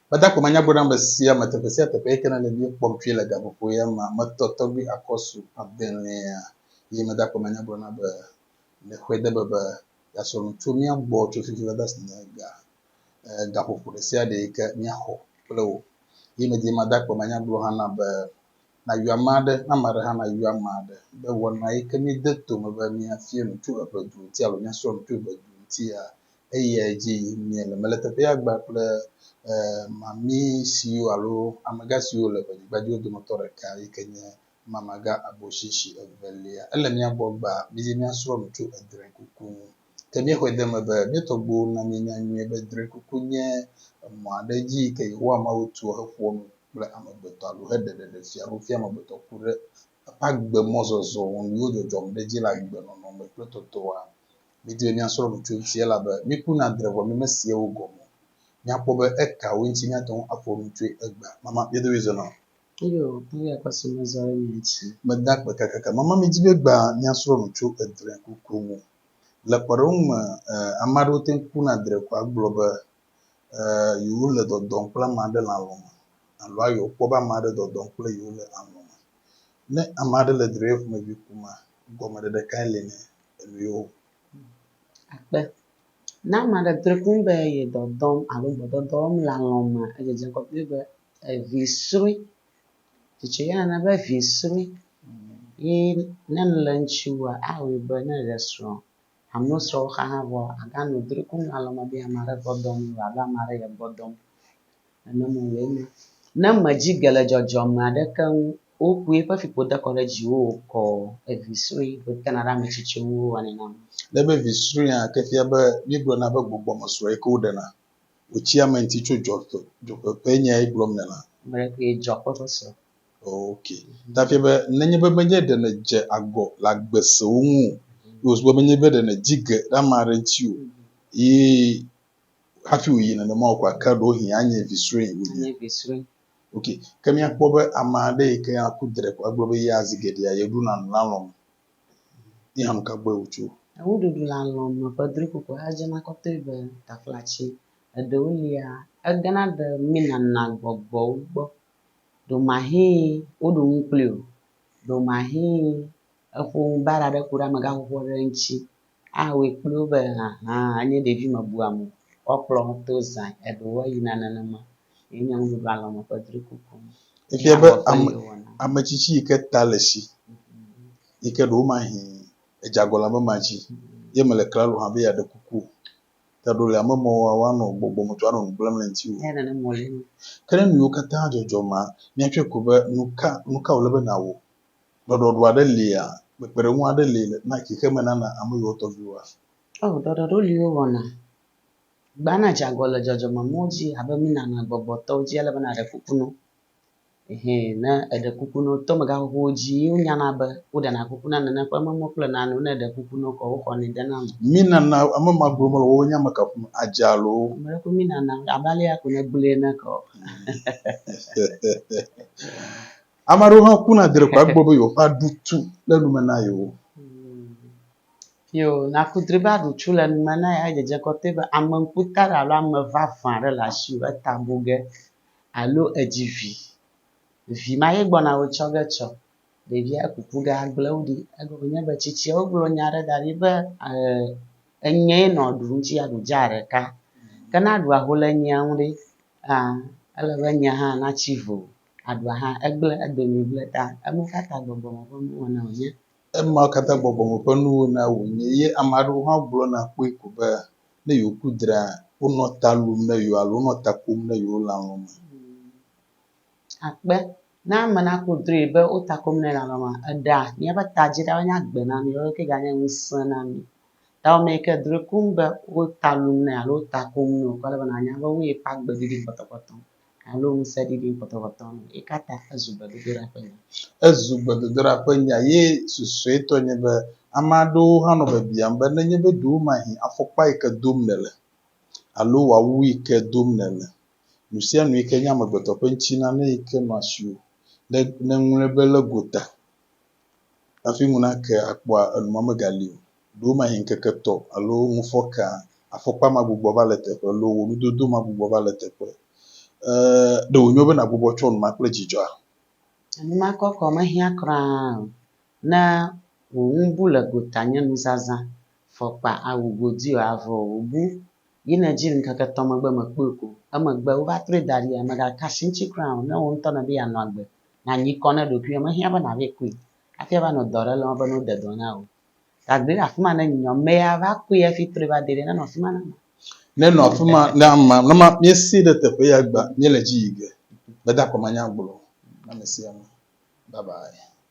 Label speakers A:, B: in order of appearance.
A: Meda kpɔ manyagblɔ na ame sia ame teƒe sia teƒe yike nane míekpɔm tsoe le gaƒoƒo ya mea, metɔ tɔgbui akɔsu adelẽa, eye meda kpɔ manyagblɔ na be, Le xɔe de be be yeasrɔ̃ nu tso mía gbɔ tso fifi va dasi ne ga, e, gaƒoƒo ɖe sia ɖe yike míaxɔ kple wò. Eye medi mada kpɔ manyagblɔ hã na be, Nayɔ ame aɖe, ame aɖe hã nayɔ ame aɖe, be wɔna yike míede to me be míafia nu tso eƒe du ŋuti alo míasrɔ̃ nu tso eƒe du ŋutia, eya dzi yim miele. Mele teƒea gba kple e, mami siwo alo amegã siwo le ʋenyigba dzi dometɔ ɖeka yi ke nye mamagã aboshishi evelia. Ele mía gbɔ gba mizi míasrɔ̃ nu tso edrɛ̃kuku ŋu. Ke míexɔe de eme be mía tɔgbuiwo na míenya nyuie be drɛ̃kuku nye emɔ aɖe dzi yi ke Yehowa Mawu tua heƒoa nu kple amegbetɔ alo heɖe ɖeɖefia alo fia amegbetɔ ku ɖe eƒe agbemɔzɔzɔ nyuiwo dzɔdzɔm ɖe edzi le agbenɔnɔ me kple tɔtɔa Mídie míasrɔ̃ nu tso eŋuti elabe míkuna dre vɔ mímesiewo gɔme o. Míakpɔ be ekawoe ŋuti míate ŋu aƒo nu tsoe egbea. Mama, mía dome zɔna? Eyo, eyi
B: akpa si mezɔ ɖe mia dzi. Meda akpe kakaka.
A: Mama, midi be egbea míasrɔ̃ nu tso edre kuku ŋu. Le kpɔɖeŋu me, ame aɖewo te ŋu kuna dre ko agblɔ be yewole dɔdɔm kple ame aɖe le alɔ̃ me alo ayɔ kpɔ be ame aɖe dɔdɔm kple yewo le alɔ̃ me. Ne ame aɖe le dre ƒomevi kum a, Gɔmeɖeɖe kae li na enuiwo?
B: Akpe. Ne ame aɖe drɔe kpɔ be ye dɔ dɔm alo gbɔdɔdɔ wɔm le alɔ̃ mea, edzedze ŋgɔ kpli be vi srɔ̃e. Tsitsi ya nana be vi srɔ̃e ye ne nu le eŋuti wua, awɔe be ne eɖe srɔ̃, alo srɔ̃ wo xa hã vɔa, aganɔ drɔe kum le alɔ̃ me be ame aɖe gbɔ dɔm ye o alo ame aɖe ye gbɔ dɔm. Nane mo lee nye. Ne mèdzi ge le dzɔdzɔme aɖeke ŋu o koe eƒe fiƒo dekɔ ɖe dziwò o kɔ o, evi srɔ̃e koe tena ɖe ame tsitsiwo ŋu wowanɛ nam. Ne be vi srɔ̃ea
A: ke fia be míegblɔna be gbɔgbɔme srɔ̃e ke woɖena wòtsi ame ŋuti tso dzɔƒe, dzɔƒe ƒe nyae gblɔm nèle? Ame ɖe koe dzɔƒe
B: ƒe srɔ̃. Ok.
A: Ta fia be nenye be menye ɖe nèdze agɔ le agbe sewo ŋu o, ye wòsu be menye be ɖe nèdzi ge ɖe ame aɖe ŋuti o, ye hafi wòyi nenema o kɔa, ke ɖewohĩ anye vi srɔ̃e wònye. Anye vi srɔ̃e.
B: Ok, ke
A: míakpɔ be ame aɖe yi ke aku dre ko agblɔ be yea zi geɖea yeɖuna nu le alɔ̃ me. Ye hã nu ka gbɔe wòtso? Nuɖuɖu le alɔ̃
B: me ƒe drikpokpɔ ya dzena kɔtɔe be taflatsi. Eɖewo lia, egena ɖe numenana gbɔgbɔwo gbɔ. Ɖewomahi woɖu nu kpli o, ɖewomahi eƒo nu baɖa ɖe ku ɖe amegaxoxoa ɖe ŋuti awɔe kpli wo be ahan anye ɖevi mebuame o, woakplɔ wo to zã, eɖewo eyina nenema. Ye nye Nuɖuɖu Alɔ̃ Me ƒe drikuku. Efia be
A: ame ame tsitsi yi ke ta le si yi ke ɖewomahĩ edze agɔlãme ma dzi ye mele klalo hã be yeaɖe kuku o ta ɖo le ame mɔwo wa woanɔ gbɔgbɔ me tɔ anɔ nu gblẽm le ŋutiwò. Eya nane mɔ le eme.
B: Ke ne nu yiwo
A: katã dzɔdzɔ ma, míatsɔe ko be nuka nuka wòle be nàwɔ Ɖɔɖɔɖo aɖe lia? Kpekpeɖeŋu aɖe li na xexeme nana ame yiwo tɔ viwoa? Oo, ɖɔɖɔɖo
B: li wowɔna. Gbana dze agɔ le dzɔdzɔmenuwo dzi abe mí nanɔa gbɔgbɔtɔwo dzi ale be nàɖe kuku na wo. Ɛhɛ, ne èɖe kuku na wo, to megãxoxowo dzi ye wonyana be woɖena kuku na nane ƒe memɔwo kple nanewo. Ne èɖe kuku na wo kɔ woxɔnɛ dena eme. Mí nana ame
A: ma gblɔ mele woawo nya me kafum adze alo? Ame ɖe koe mí nana
B: abe alea ko nègblɔe ene keɔ?
A: Ame aɖewo hã kuna drekɔa gbɔ be yewoƒe aɖutu le nume na yewo.
B: Yo, naku dri be aɖutu le nume na ye adzedze kɔtɛ be ame ŋkuta aɖe alo ame vavã aɖe le asiwò eta bu ge alo edzi vi. Vi ma ye gbɔna wò tsɔ ge tsɔ. Ɖevia kuku ge agblẽ wò ɖi. Egɔme nye be tsitsiawo gblɔ nya aɖe da ɖi be e enye ye nɔ ɖu ŋuti aɖu dza ɖeka. Ke ne aɖua ho le enyia ŋu ɖe, aa ele be enyia hã natsi vo. aɖua hã, egblẽ edomee gblẽ ta. Ema katã gbɔgbɔ me ƒe nuwɔna wònye. Ema katã
A: gbɔgbɔ me ƒe nuwɔna wònye. Ye ame aɖewo hã gblɔna kpɔe ko be, ne yewoku dra, wonɔ ta lum ne yewo alo wonɔ ta kom ne yewo lãlɔ̃ me. Akpe,
B: ne ame naku dree be wo ta kom nɛ lãlɔ̃ me. Eɖea míaƒe ta dzi ɖa wòanye agbe na mí, woawo ke ganye ŋusẽ na mí. Tawɔ mee ke drɔe koŋ be wo ta lum nɛ alo wo ta kom nɛ wòkɔ ale be nànya be woe ƒe agbe didi kpɔtɔkpɔtɔ. alo ŋusẽ ɖiɖi ŋkɔtɔŋkɔtɔ nu o. Eka ta ezu gbedodoɖa ƒe nya? Ezu gbedodoɖa
A: ƒe nya ye susuetɔ nye be ame aɖewo hã nɔ biabiam be nenye be ɖewomahĩ afɔkpa yi ke dom nèle alo awu yi ke dom nèle, nusianu yi ke nye amegbetɔ ƒe ŋutilã, ne yi ke nɔ asiwò, ne ŋlɔe be le gota. Hafi ŋu nake akpɔa, enumɔ megali o. Ɖewo mahi ŋkeke etɔ̃ alo ŋu fɔkea, afɔkpa magbugbɔ va le teƒe loo wò nudodo magbugbɔ va le teƒe. E, ɖe wònyo be nàgbugbɔ tsɔ enuma kple dzidzɔa? Enuma
B: kɔkɔ mehiã kura o. Ne wò ŋu bu le gota nye nuzazã, fɔkpa, awu, godi o, avɔ o, wòbu Yi nedzi ŋkeke etɔ̃ megbe mekpɔe ko. Emegbe wova trɔe da ɖia? Mègakasi eŋuti kura o. Ne wò ŋutɔ nèdi yeanɔ agbe, nànyi kɔ na ɖokuiwò. Mehiã be nàvɛ kui hafi ava nɔ dɔ aɖe lɔm be ne wode dɔ na wò. Gagblẽ ɖe afi ma ne nyɔ mea va kui hafi trɔe va dee ɖe, nenɔ afi ma na amea. Nenɔ afi ma
A: na amea. Ne míesee ɖe teƒe ya egbea, míele edzi yi ge. Meda akɔ manyagblɔ na ame sia ame. Babae.